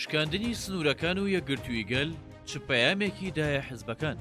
شکاندنی سنوورەکان و یەکگرتووی گەل چ پەیامێکی دایە حزبەکان؟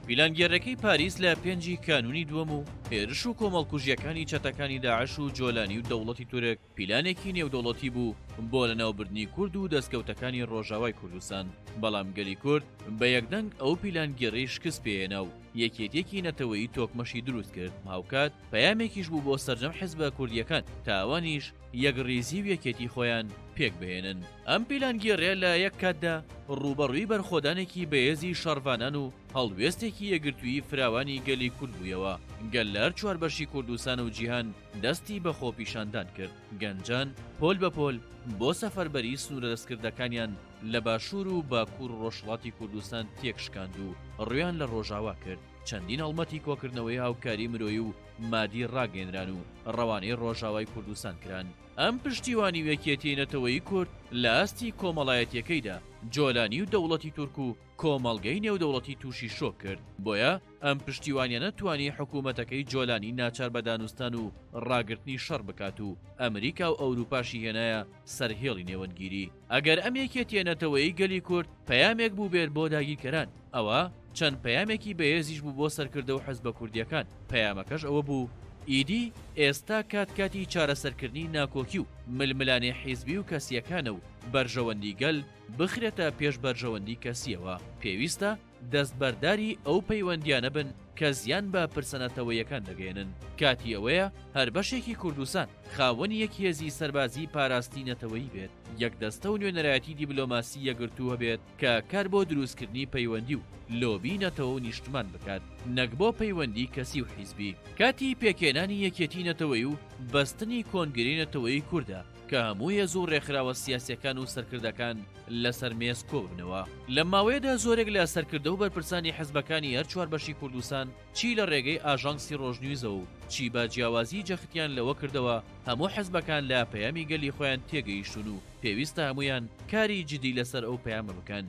پیلانگێرەکەی پاریس لە پێنجی کانونی دووەم و هێرش و کۆمەڵکوژیەکانی چەتەکانی داعش و جۆلانی و دەوڵەتی تورک پیلانێکی نێودەوڵەتی بوو بۆ لەناوبردنی کورد و دەستکەوتەکانی ڕۆژاوای کوردستان، بەڵام گەلی کورد بە یەکدەنگ ئەو پیلانگێڕیەی شکست پێ هێنا و یەکێتیەکی نەتەوەیی تۆکمەشی دروست کرد، هاوکات پەیامێکیش بوو بۆ سەرجەم حزبە کوردیەکان تا ئەوانیش یەکڕیزی و یەکێتی خۆیان پێک بهێنن. ئەم پیلانگێڕیە لە یەک کاتدا ڕووبەڕووی بەرخۆدانێکی بەهێزی شەڕڤانان و هەڵوێستێکی یەکگرتوویی فراوانی گەلی کورد بوویەوە، گەل لە هەر چوار بەشی کوردستان و جیهان، دەستی بە خۆپیشاندان کرد، گەنجان پۆل بە پۆل بۆ سەفەربەری سنوورە دەستکردەکانیان لە باشوور و باکوور ڕۆژهەڵاتی کوردستان تێکشکاند و ڕوویان لە ڕۆژاوا کرد، چەندین هەڵمەتی کۆکردنەوەی هاوکاری مرۆیی و مادی ڕاگەیەنران و ڕەوانەی ڕۆژاوای کوردستان کران. ئەم پشتیوانی و یەکیەتیی نەتەوەیی کورد لە ئاستی کۆمەڵایەتییەکەیدا جۆلانی و دەوڵەتی تورک و، کۆمەڵگەی نێودەوڵەتی تووشی شۆک کرد، بۆیە ئەم پشتیوانیانە توانی حکوومەتەکەی جۆلانی ناچار بە دانوستان و ڕاگرتنی شەڕ بکات و ئەمریکا و ئەورووپاشی هێنایە سەر هێڵی نێوەندگیری. ئەگەر ئەم یەکێتییە نەتەوەیی گەلی کورد پەیامێک بووبێر بۆ داگیرکەران، ئەوا چەند پەیامێکی بەهێزیش بوو بۆ سەرکردە و حزبە کوردییەکان، پەیامەکەش ئەوە بوو، ئیدی ئێستا کات کاتی چارەسەرکردنی ناکۆکی و ململانێ حیزبی و کەسییەکانە و بەرژەوەندی گەل، بخرێتە پێش بەرژەوەندی کەسییەوە، پێویستە دەستبەرداری ئەو پەیوەندییانە بن کە زیان بە پرسە نەتەوەیەکان دەگەیەنن، کاتی ئەوەیە هەر بەشێکی کوردستان خاوەنی یەک هێزی سەربازیی پاراستی نەتەوەیی بێت، یەک دەستە و نوێنەرایەتی دیبلۆماسی یەکگرتوو هەبێت کە کار بۆ دروستکردنی پەیوەندی و لۆبی نەتەوە و نیشتمان بکات، نەک بۆ پەیوەندی کەسی و حیزبی. کاتی پێکهێنانی یەکێتی نەتەوەیی و بەستنی کۆنگرەی نەتەوەیی کوردە، کە هەموو هێز و ڕێکخراوە سیاسیەکان و سەرکردەکان لەسەر مێز کۆببنەوە لەم ماوەیەدا زۆرێک لە سەرکردە و بەرپرسانی حزبەکانی هەر چوار بەشی کوردستان چی لە ڕێگەی ئاژانسی ڕۆژنیوزەوە و چی بە جیاوازی جەختیان لەوە کردەوە هەموو حزبەکان لە پەیامی گەلی خۆیان تێگەیشتون و پێویستە هەمویان کاری جدی لەسەر ئەو پەیامە بکەن.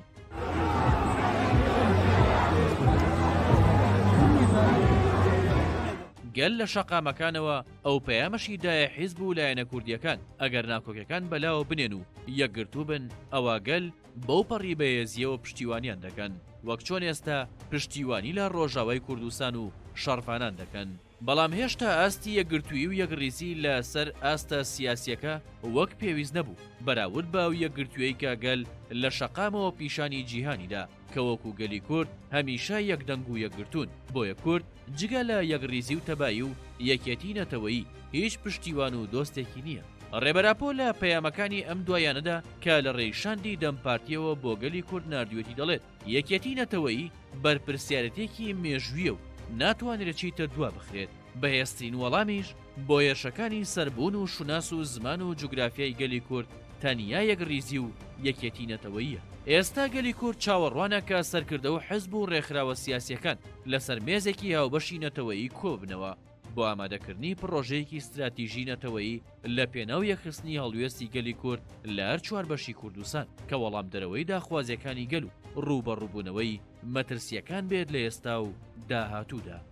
گەل لە شەقامەکانەوە ئەو پەیامەشی دایە حیزب و لایەنە کوردییەکان، ئەگەر ناکۆکیەکان بەلاوە بنێن و یەکگرتوو بن، ئەوا گەل بەو پەڕی بەهێزییەوە پشتیوانیان دەکەن، وەک چۆن ئێستا پشتیوانی لە ڕۆژاوای کوردستان و شەڕڤانان دەکەن. بەڵام هێشتا ئاستی یەکگرتوویی و یەکڕیزی لە سەر ئاستە سیاسییەکە وەک پێویست نەبوو، بەراورد بە ئەو یەکگرتوویەی کە گەل لە شەقامەوە پیشانی جیهانی دا. کە وەکو گەلی کورد هەمیشە یەک دەنگ و یەکگرتوون، بۆیە کورد جگە لە یەکڕیزی و تەبایی و یەکیەتی نەتەوەیی هیچ پشتیوان و دۆستێکی نییە. ڕێبەر ئاپۆ لە پەیامەکانی ئەم دواییانەدا کە لە ڕێی شاندی دەم پارتییەوە بۆ گەلی کورد ناردویەتی دەڵێت، یەکیەتی نەتەوەیی بەرپرسیارێتیەکی مێژوییە و ناتوانرێت چیتر دوا بخرێت، بەهێزترین وەڵامیش، بۆیەشەکانی سەر بوون و شوناس و زمان و جوگرافیای گەلی کورد تەنیا یەک ریزی و یەکێتی نەتەوەییە. ئێستا گەلی کورد چاوەڕوانە کە سەرکردە و حزب و رێکخراوە سیاسیەکان لەسەر مێزێکی هاوبەشی نەتەوەیی کۆببنەوە بۆ ئامادەکردنی پڕۆژەیەکی ستراتیژی نەتەوەیی لە پێناو یەکخستنی هەڵوێستی گەلی کورد لە هەر چوار بەشی کوردستان کە وەڵامدەرەوەی داخوازیەکانی گەل و رووبەڕووبوونەوەی مەترسیەکان بێت لە ئێستا و داهاتوودا.